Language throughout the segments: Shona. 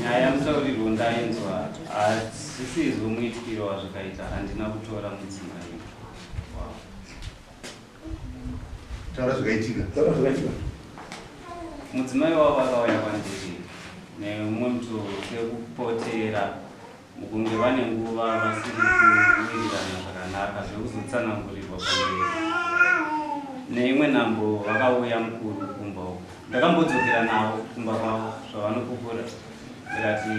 nyaya yamusaurirwo ndainzwa asisizi umuitikiro wazvakaita handina kutora mudzimai taura zvakaitika taura zvakaitika mudzimai wavo akauya kwandiri neumwe muto sekupotera mukunge vane nguva vasiri kuwirirana zvakanaka zvekuzotsanangurirwa pamberi neimwe nambo vakauya mukuru kumba uko ndakambodzokera navo kumba kwavo zvavanopupura ndikati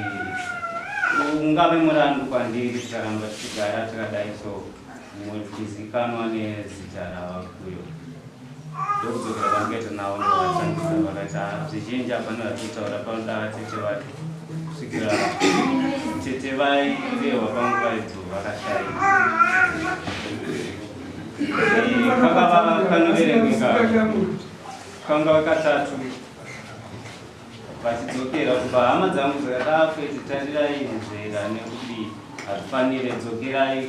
ungave murandu kwandiri tikaramba tichigara takadai so mutizikanwa nezita ravakuyo ndokudzokera kwandikaita navo ndovashandisa vakaita zvizhinji havana vachitaura panoda vatete vake kusvikira tete vai vehwa pangu vaidzo vakashaika kakava kanoverengeka kanga katatu vachidzokera kuba hama dzangu dzakadako iti tarirai nzvera nekudii hazvifanire dzokerai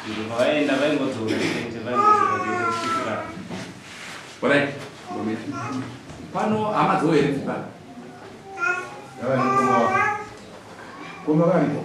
nzvimbo pavaenda vaingodzoka chete vaingodzoka chete kusikira orai ngometi pano hama dzowo here dziba koma variko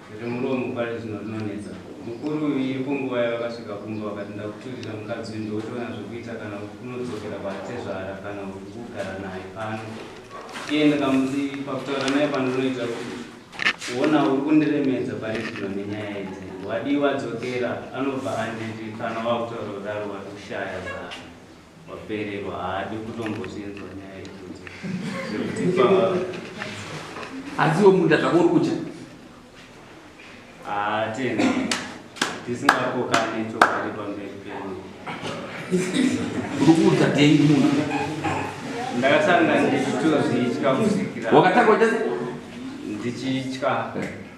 Zvemuromo pari zvino rinonetsa. Mukuru uyu iripo nguva yavakasvika kumba vakati ndakuturira mukadzi uyu ndotoona zvekuita kana kunodzokera kwatezvara kana kugara naye pano. Iye ndakamuti pakutaura naye pandinoita kuona uri kundiremedza pari zvino nenyaya idzi. Wadii wadzokera anobva anditi kana wakutaura kudaro watoshaya zano. Wapererwa haadi kutombozvinzwa nyaya idzodzo zvekuti pa Asi iwe munda zvako uri kutya. hatena tisingakokane chokwadi pamberi penyu. Uri kuudza dhengi munhu. Ndakasanga ndichitozvitya kusikira Wakatanga uchati ndichitya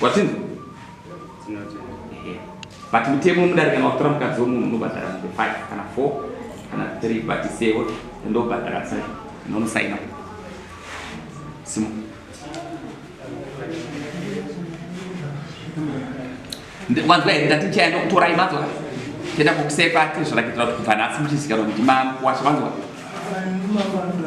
Watinzi? But mutemo mudare kana watora mukadzi wemunhu unobhadhara mumbe 5 kana 4 kana 3 but sewo ndobhadhara sai nomusaina simo wanzwa here ndati ndichaenda kutora imatora tienda kukusepa tizvirakitira kuti kubva nhasi muchizikanwa kuti makuwasha wanzwa